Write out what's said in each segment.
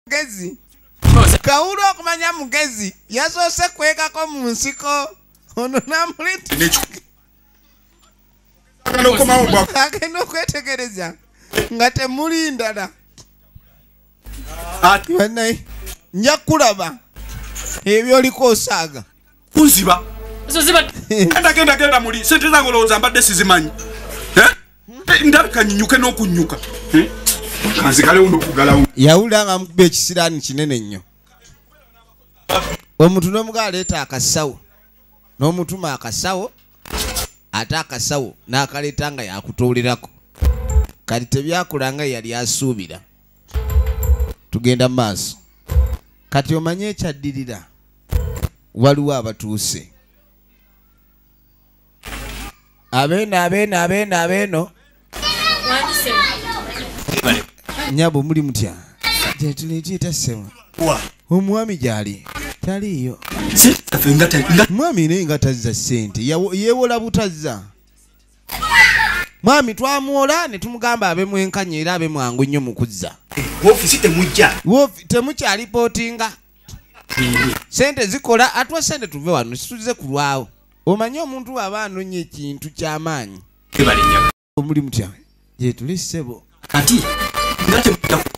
mugezi kawulu okumanya mugezi yasoose kwekako mu nsiko ono namuliagenda okwetegereza nga temuli ndala nja kulaba ebyoliko osaaga kunziba genda genda genda muli sente zange olowooza mbadde sizimanyi eh? Eh, ndabika nyinyuke n'okunyuka eh? kanzikalewo nokugalawo yawulira nga mukuba ekisiraani kinene nnyo omuntu n'omuga aleeta akasawo n'omutuma akasawo ate akasawo n'akaleeta nga yakutuulirako kati tebyakula nga yali asuubira tugenda mu maaso kati omanye ekyaddirira waliwo abatuuse abeeno abeeno abeeno abeeno nyabo muli mutya jatuleeteetasema omwami gyali taliiyo mwami naye nga tazza ssente yeewola butazza mwami twamuwola ne tumugamba abe mwenkanya era abe mwangu nnyo mu kuzza eh, woofiisi temujja temukyalipootinga sente zikola atwa sente tuve wano situze kulwawo omanyi omuntu waba anonya ekintu kyamaanyi omuli mutya gyetuli ssebo kati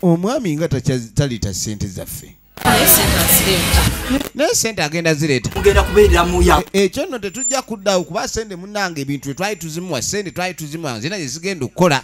omwami nga taliita sente zaffe naye sente agenda zireeta e, ekyo nno tetujja kuddawo kuba sente munange ebintu etwali tuzimuwa sente twali tuzimuwa nzina gyezigenda okukola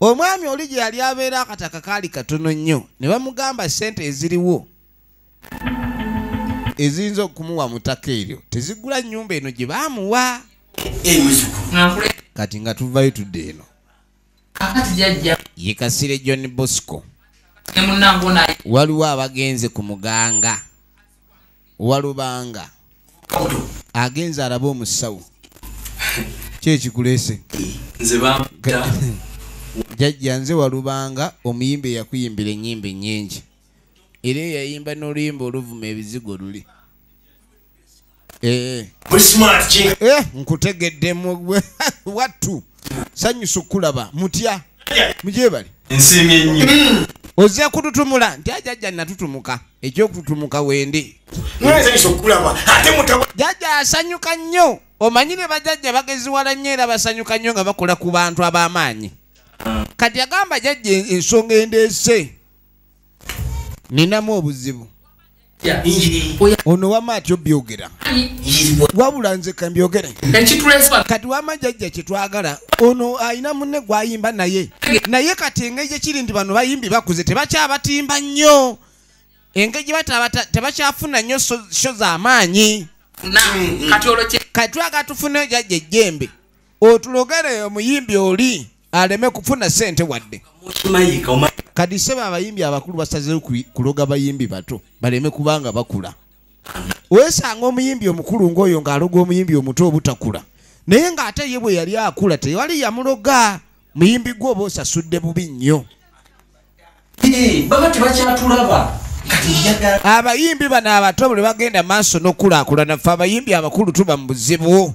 omwami oli gye yali abeera akataka kaali katono nnyo ne bamugamba ssente eziriwo eziyinza okumuwa mu ttaka eryo tezigula nnyumba eno gye baamuwa kati nga tuvayo tudde eno yekasire john bosco waliwo abagenze ku muganga walubanga agenze araba omusawo kyekikulese jajja nze walubanga omuyimba eyakuyimbira enyimba enyingi era eyayimba noluyimba oluvuma ebizigo luli eh, eh. eh, nkutegeddemu wattu sanyusa okukulaba mutya mugyebale nsiimye nnyo mm. ozze kututumula nti ajajja natutumuka ekyokututumuka wendi jajja asanyuka nnyo omanyi ne bajajja bageziwala nnyo era basanyuka nnyo nga bakola ku bantu ab'amaanyi kati agamba jajja ensonga endeese ninamu obuzibu ono wama ati obyogera wabula nze kambyogere kati wama jajja kyetwagala ono alina munne gwayimba naye naye kati engeri gyekiri nti bano bayimbi bakuze tebakyabatimba nnyo engeri gyebatabata tebakyafuna nnyo sho zamaanyi kati olwo kati twaga tufuneyo jajja ejjembe otulogere omuyimbi oli aleme kufuna sente wadde kadi sebo abayimbi abakulu basazeyo kuloga bayimbi bato baleme kubanga bakula wesanga omuyimbi omukulu ngaoyo ngaaloga omuyimbi omuto obutakula naye ngaate ye bwe yali akula tewali yamuloga muyimbi gwe oba osasudde bubi nnyo abayimbi bano abato buli bagenda maaso nokulakulana fe abayimbi abakulu tuba mu buzibu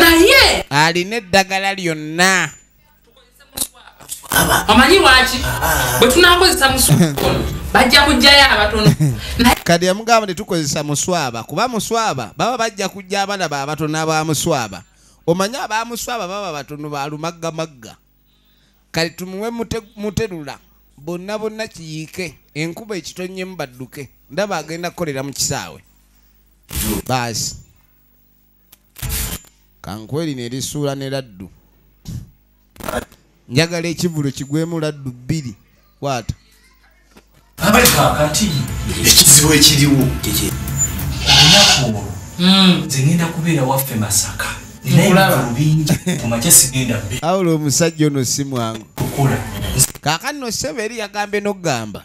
naye alina eddagala lyonna omanyi lwaki ah. bwe tunakozesa muswakono bajja kujjayo abatono kati yamugamba tetukozesa muswaba kuba muswaba baba bajja kujja abana ba batono abamuswaba omanyi abamuswaba baba batono balumaggamagga kale tumuwe muterula bonna bonna kiyiike enkuba ekitonyemu badduke ndaba agenda kukolera mu kisaawe baasi kankweri nerisuula ne laddu njagala ekivulu kigwemu laddu bbiri kwata abali kakati ekizibu ekiriwo olunaku olwo hmm. nze ngenda kubeera waffe masaka awula omusajja ono si mwangu kakati nosebe eri yagambye nokugamba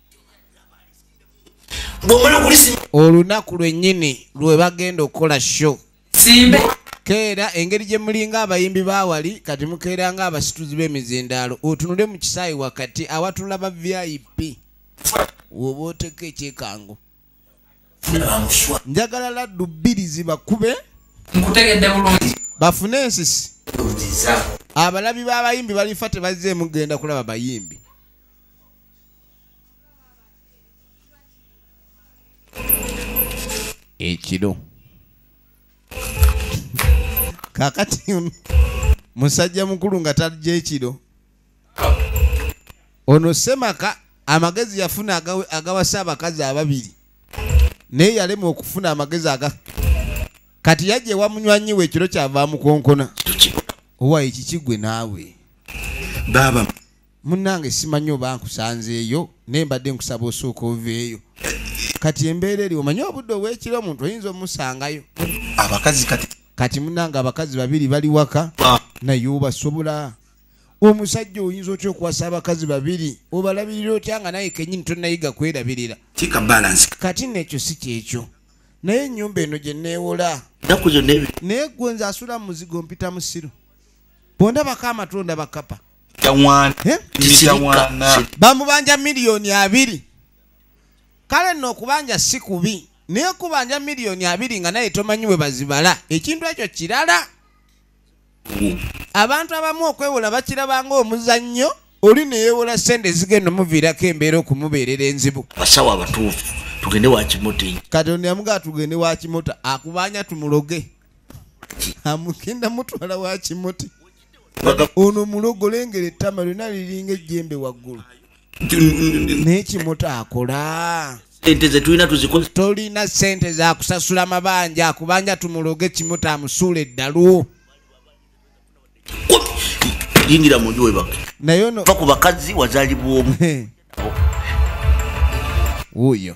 olunaku lwennyini lwe bagenda okukola sho keera engeri gye mulinga abayimbi bawali kati mukeera nga abasituzi b'emizindaalo otunule mu kisaayi wakati awatula ba vip woba oteka ekyekango njagala laddu bbiri zibakube bafune ensisi abalabi b'abayimbi balifa tebazze emugenda kulaba bayimbi ekiro kakati musajja mukulu nga talija ekiro ono semaka amagezi yafuna agawasa abakazi ababiri naye yalema okufuna amagezi aga kati yajja ewa munywanyi we ekiro kyava mukonkona owa ekikigwe naawe baaba Munnange simanyi oba nkusanzeeyo naye mbadde nkusaba osooka oveeyo kati embeera eri omanyi obudde obwekiro omuntu oyinza omusangayo abakazi kati kati munnange abakazi babiri bali waka ah. naye obasobola omusajja oyinza otya okuwasa abakazi babiri obalabirira otya nga naye kenyini tonayiga kwerabirira kati nekyo si kyekyo naye enyumba eno gye neewola naye gwe nze asula mu muzigo mpita musiru bondabako amatunda bakapa bamubanja miliyoni abiri kale nno okubanja si kubi naye kubanja miliyoni abiri nga naye tomanyi bwe bazibala ekintu ekyo kirala abantu abamu okwewola bakirabanga omuzannyo oli neyewola sente zigenda omuviirako embeera okumubeerera enzibu basawo abatuufu tugende wakimota katonda yamugaa tugende wakimota akubanja tumuloge amugenda mutwala wakimuti ono mulogo lengera ettama lyona liringa ejjembe waggulu naye kimuta akola sente zetulina tuzikoze tolina sente zakusasula mabanja kubanja tumuloge kimu tamusuula eddalu yingira munju webake naye ono va ku bakazi wazalibwa omu wuyo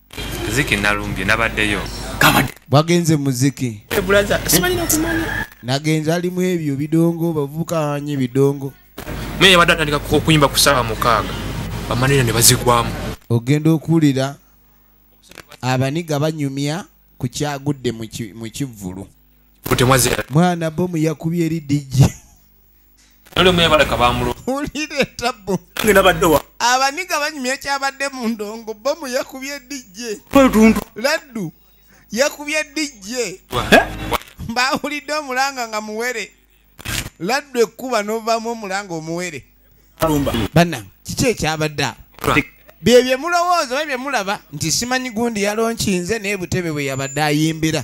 ziki nalumbye nabaddeyo bwagenze muziki nagenze ali mu ebyo bidongo bavubuka anye bidongo naye yabadde atandika okuyimba ku saawa mukaaga bamanira ne bazigwamu ogenda okuwulira abaniga banyumya ku kyagudde mu kivvulu mwana bomu yakubye eri dijji abaniga banyumya ekyabadde mu ndongo bomu yakubye dijje laddu yakubye dijje eh? baawulidde omulanga nga muwere laddu ekkuba novamu omulanga omuwere bana kiki ekyabadde awo bye bye mulowooza oba bye mulaba nti simanyi gundi yalonkinze naye butebe bwe yabadde ayimbira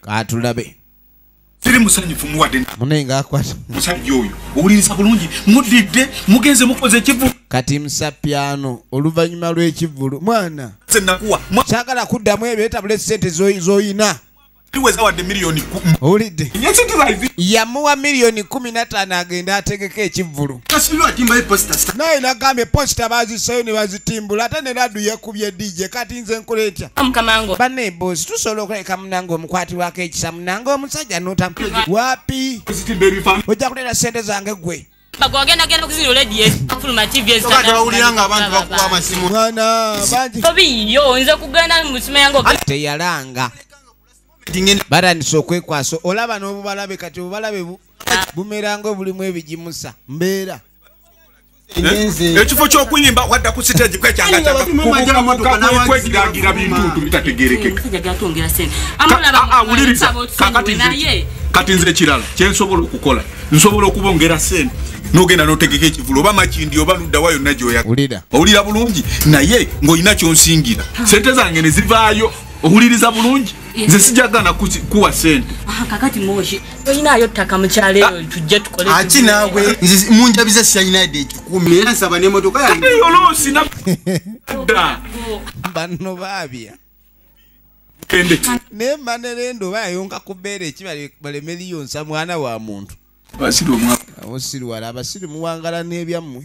katulabe siri musanyufu muwadde mune nga akwata musajja oyo owuliriza bulungi mudidde mugenze mukoze ekivu kati msapyano oluvannyuma lw'ekivulu mwana senakuwa kyagala kuddamu ebyo etabula esente zoyina owulidde yamuwa miliyoni kumi nataano agenda ategeka ekivvulu naye nagambye posita baziseyo ne bazitimbula ate ne ladu yekubye dj kati nze nkola etya banna emboozi tusobola okuleka munange omukwatirwako ekisa munange omusajja nota wapi ojja kuleera sente zange gwe teyalanga batandise okwekwasa olaba n'obubalabe kati obubalabe bumeranga obulimu ebigimusa mbeera Eh? ekifo kyokuyimba wadda ku sitegi kwekyakwegagira bintu bitategerekeka kati nze ekirala kyensobola okukola nsobola okubongera sente nogenda notegeka ekivulu oba makindi oba luddawa yonna gyoyawulira bulungi naye ng'olina kyonsingira sente zange ne zivaayo owuliriza bulungi nze sijagana kuwa sente ah, kakati moshi oyinayo ttaka mukyalo eyo ah. tujje tukole aki naawe nze munjabiza siyayinayidde ekikumi era nsaba nemotoka yayoloosi na dda banno baabya naye manerendo bayonka ku bbeera eki balemeriyo nsa mwana wa muntu abasiriwala abasiri muwangala n'ebyammwe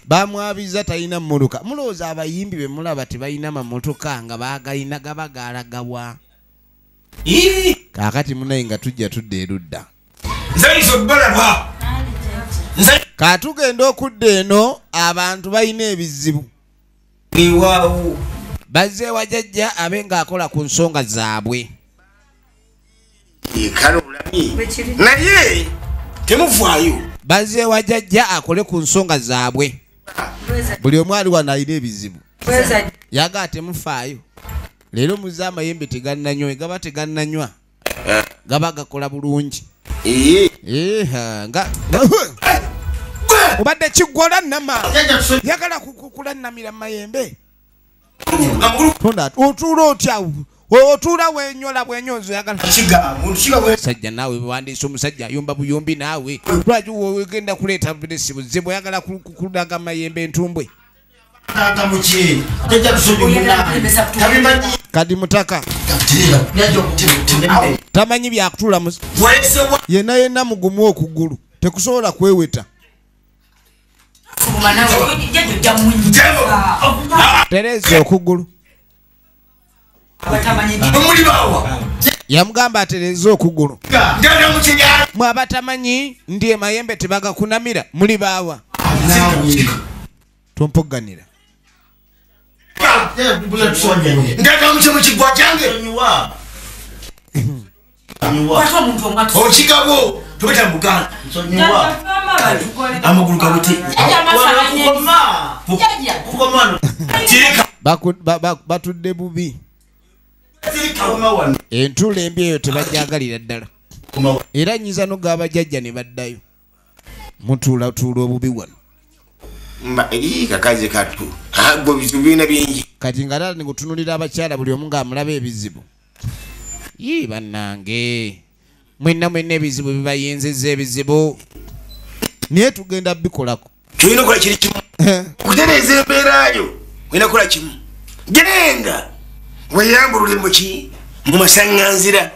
bamwabiza talina muluka mulowooza abayimbi bemulaba tebalina mamotoka nga bagalina gaba galagawa kakati munaye nga tujja tudda erudda katugenda okudda eno abantu balina ebizibu bazeewa jajja abe ngaakola ku nsonga zaabwe kale olabye naye temuvaayo bazeewa jajja akole ku nsonga zaabwe buli omu ali wano alina ebizibu yagaa temufaayo leero muze amayembe tegannanywa egaba tegannanywa eh. gaba gakola bulungi eh. Eh, nga obadde kiggwola nama yagala kukulanamira mu mayembe otuula otya otuula wenyola bwenyonzi oyagalasajja naawe bewandiisa omusajja ayumba buyumbi naawe lwaki wegenda kuleeta biresi buzibu oyagala kulaga mayembe entumbwe kadi mutaka tamanyi byakutuula yena yena mugumu okugulu tekusobola kweweta tereza okugulu yamugamba atereze okugulu mwe abatamanyi ndi emayembe tebagakunamira muli baawa tumpogganira ndagamuce mu kigwa kyange okigabo tobeta muganda amagulu gabuti batudde bubi entula embi eyo tebagyagalira ddala era nyinza nogaba jajja ne baddayo mutuulatuula obubi wano kakazi katu ago bizibu birina bingi kati nga tata nikutunulira abakyala buli omu ngaamulaba ebizibu yii bannange mwenna mwenna ebizibu bibayinziza ebizibu naye tugenda bikolako kyolina okola kiri kimu eh. okutereeza embeera yo olina kukola kimu genda weyambulule muki mu masaŋŋanzira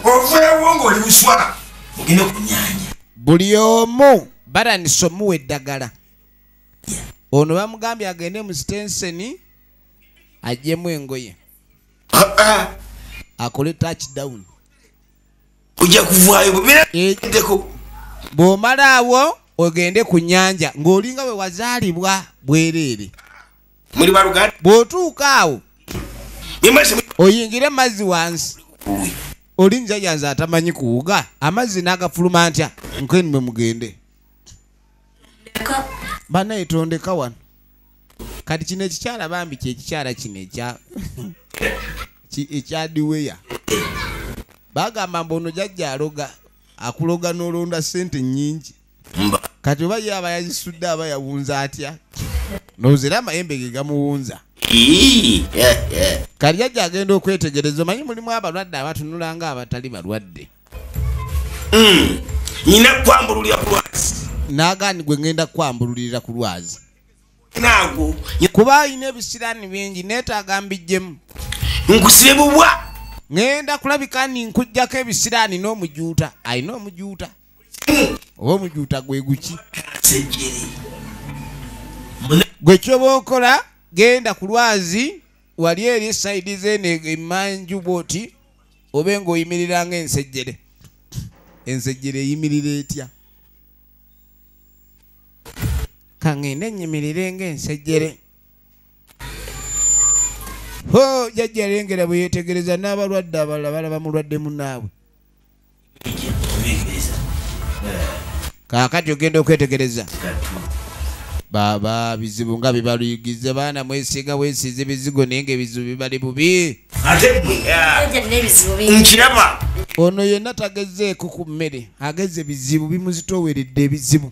oveewo ng'oli buswa ogende ku nyanja buli omu batandise omuwa eddagala ono bamugambye agende mu sitenseni ajjemu engoye ah, ah. akole touchdown ojja kuvaayo bwebiraddeko eh, bw'omalaawo ogende ku nyanja ng'olinga we wazaalibwa bwereere muli baluganda bw'otuuka awo oyingire mazzi wansi oli njaja nze atamanyi kuwuga amazzi n'agafuluma ntya nkeni mwe mugende banaye tondeka wano kati kino ekikyala bambi kyekikyala kino ekya ekyadiweya bagamba mbu ono jajja aloga akuloga nolonda sente nyingi kati oba ye aba yazisudde aba yawunza atya nozera amayembe ge gamuwunza kati jajja agenda okwetegereza omanyi mulimu abalwadde abatunula nga abatali balwadde hmm. nyina kwambululira ku lwazi nagani gwe ngenda kwambululirira ku lwazi naago kuba alina ebisiraani bingi neetaaga mbijjemu nkusibe bubwa ŋenda kulabika ni nkujjako ebisiraani n'omujuuta alina omujuuta oba omujuuta gwe guki gwe kyoba okola genda ku lwazi wali eri esaidi zeeno emanju bwoti obe ng'oyimirira nga ensejjere ensejjere eyimirira etya kaŋŋende nnyimirire ng'ensejjere ho jajja lengera bwe yeetegereza n'abalwadde abalala balaba mulwadde munaabwe kaakati ogenda okwetegereza baba bizibu nga bibaluyigize baana mwesiga wesiiza ebizigo naye nga ebizibu bibali bubi nkiraba ono yenna tagezeeko ku mmere ageze bizibu bimuzitooweredde ebizibu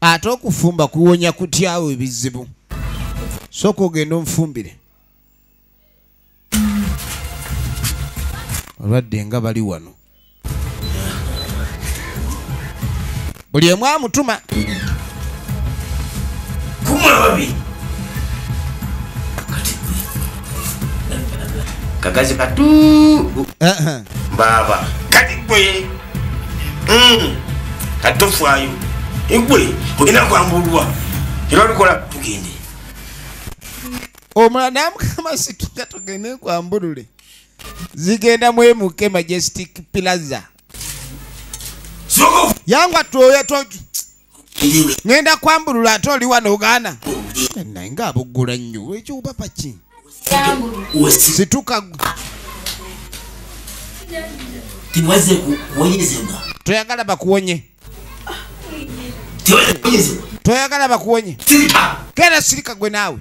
ate okufumba kuwonya kutyawo ebizibu sooka ogenda omufumbire olwadde nga bali wano buli emu amutuma kagazi katu baba kati gwe hmm. kati tofaayo egwe olina kwambulwa era olikola tugende omulala namukama situka tugende kwambulule zigenda mwemuke majestic plaza yangu atwoya ngenda kwambulula ate oli wano ogaana naye nga abuggula nnyo ekyobaba ki situka toyagala bakuwonye toyagala bakuwonye kera sirika gwe naawe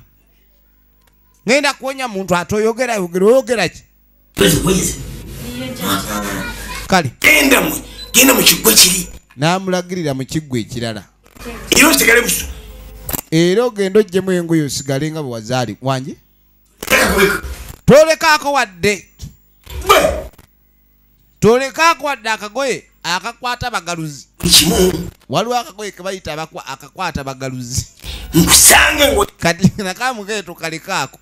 ngenda kuwonya muntu ate oyogera yogera oyogeraki kale genda mwe genda mu kiggwa kiri n'amulagirira mu kiggwa ekirala era osigale buso era ogenda ojjemu engoyo osigale nga bwe wazaali wangi tolekaako wadde tolekaako wadde akagoye akakwata abagaluzi waliwo akagoye kebayita akakwata abagaluzi kati nakamugeeto kalekaako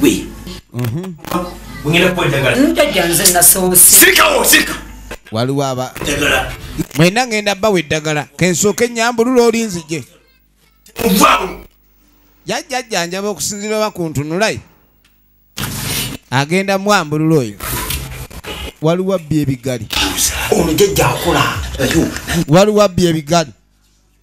gwe ngenda kuwa eddagala njajja nze nasoose sirikawo sirika waliwo aba eddagala mwena ngenda bawa eddagala kensooka ennyambulula oli nzije muvaawo jajjajjanjaba okusinzira oba ku ntunulayi agenda mwambulula oyo waliwo abbi ebigali ono jajja akola waliwo abbi ebigali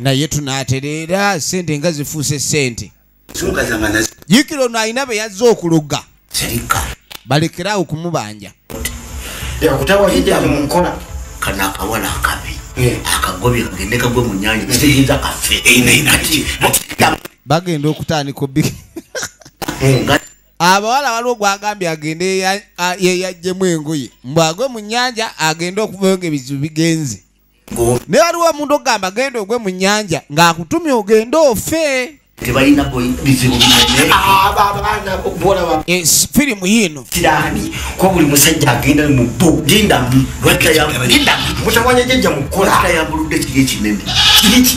naye tunatereera sente nga zifuuse sente jikira ono alina be yazze okuloga balekeraawo okumubanja bagenda okutandika obi abawala waliwo gwagambye agende yeyajjemu engoye mbwagwe mu nyanja agende okuvayo nga ebizibu bigenze naye waliwo omuntu okugamba genda ogwe mu nyanja ng'akutumye ogende ofe tebalina bizibu binenefirimu yiino kirani kuba buli musajja agenda mu bo gindamu mutawanya jajja mukola yambuludde kiri ekinene kiriki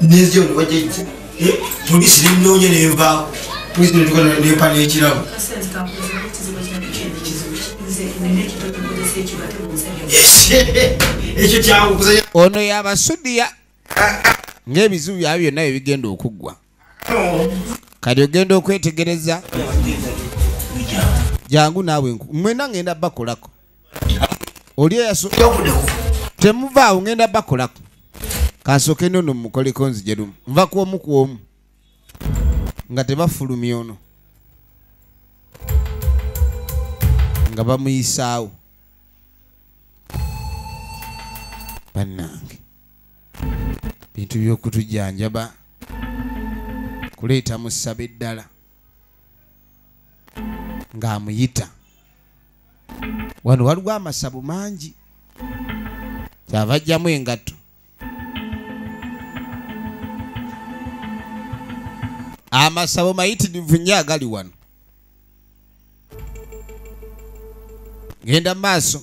neziyona wajejja eh, polisi nenoonya nenvaawo polisi netuka nempa nekirabo ekyo kyangu kuzanya ono yabasudiya ah, ah. ngaebizibu byabyo byonna bye bigenda okuggwa kati ogenda okwetegereza jangu naawe mwena ngenda bakolako oli eyaso temuvaawo ngenda bakolako kansooke nono mukoleko nzije lumu nva kwomu kwomu nga tebafulumya ono nga bamuyisaawo bannange bintu by'okutujjanjaba kuleeta musaba eddala ng'amuyita wano waliwo amasabo mangi kyava ajjamu engatto amasabo mayitirivu nnyo agali wano genda mu maaso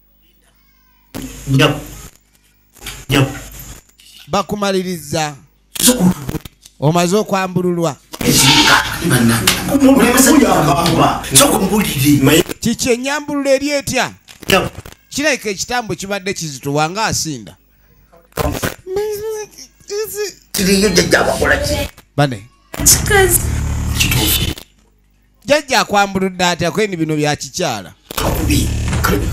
nyabo nyabo bakumaliriza omaze okwambululwa kiki enyambululo eri etya kirabika ekitambo kibadde kizituwa nga asinda bane jajja akwambuludde atya kweni bino byakikyala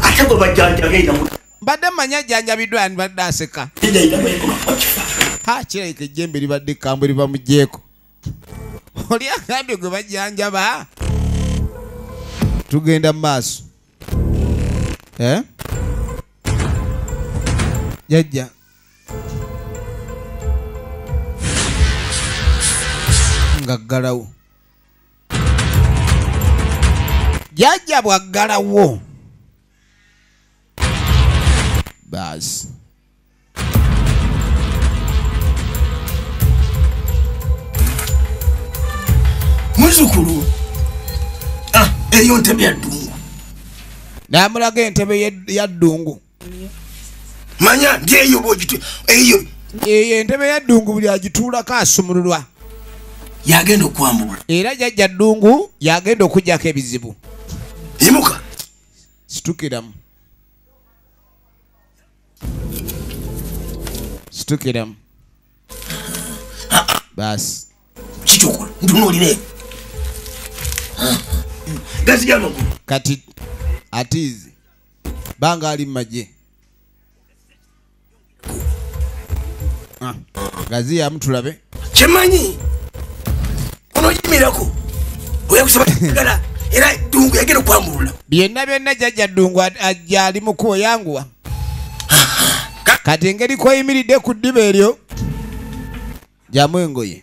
ate gwe bajjanjabeera mbadde manya ajjanjabiddwa ani badde aseka ha kirabika ejjembe libadde ekambwe liva mu jeeko oli agambye gwe bajjanjaba tugenda mu maaso eh? jajja ngaggalawo jajja bwaggalawo baasi muzukulu ah, eyo ntebe yaddungu namulaga entebe yaddungu manya ndi eyo bwogitu eyo eyo entebe ya ddungu buli agituulako asumululwa yagenda okwambula era jajja ddungu yagenda okujjako ebizibu imuka situkiramu situkiramu basi kikyokola ntunuulire gazigamagulu kati atiizi banga ali mumagye ah, gaziyamu tulabe kyemanyi onojimirako oyakusaba gala era dungu yagenda okwambulula byonna byonna jajja dungu ajja ali mukubo yanguwa kati engeri koyimiridde ku ddiba eryo jamu engoye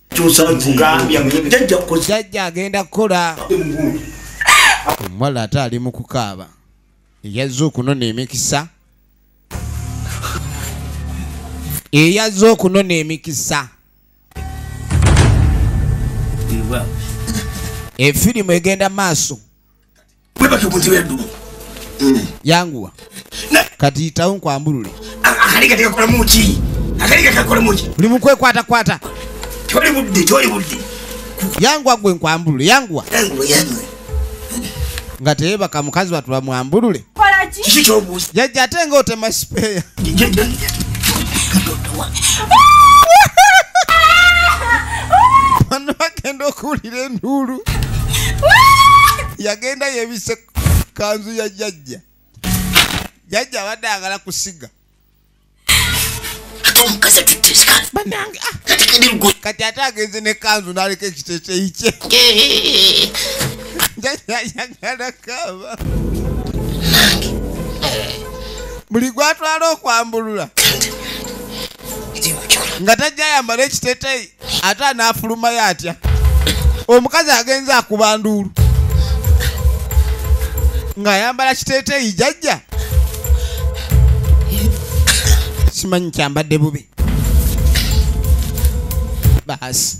jajja agenda kukola omuwala ate ali mu kukaaba eyazze okunona emikisa eyazze okunona emikisa efirimu egenda maaso yanguwa kati yitawo nkwambulule buli mukwekwatakwata yanguwa gwe nkwambulule yanguwa nga teyebaka mukazi watu bamwambulule kiki kyobuuza jajja ate nga otema sipeeya bano bagenda okuwulira enduulu yagenda yebise kanzu ya jajja jajja abadde agala kusiga ate omukazi atutte esikaati banange ah. kati kadi lugo kati ate agenze ne kanzu naleka ekiteteyi kye njayagala kaba nange buli gwatwala okwambulula nga tajja ayambala ekiteteyi ate anaafulumayo atya omukazi agenze akuba nduulu ng'ayambala kiteeteeyi jajja simanyi kyambadde bubi baasi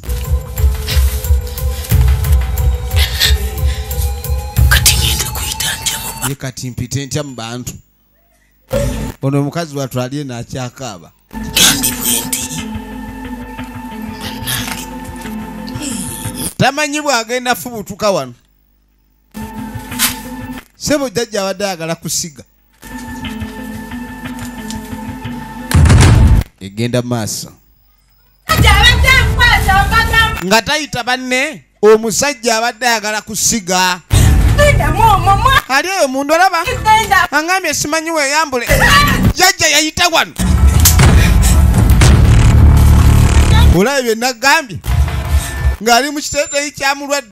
kati mpite ntya mu bantu ono omukazi watu ali eno akyakaaba tamanyi bwagenda fubutuka wano sebo jajja abadde ayagala kusiga egenda maaso nga tayita banne omusajja abadde ayagala kusiga ali eyo mundu olaba angambye simanyi weyambule jajja yayita wano olaba byenagambye ng'ali mu kiteteyi kyamulwadde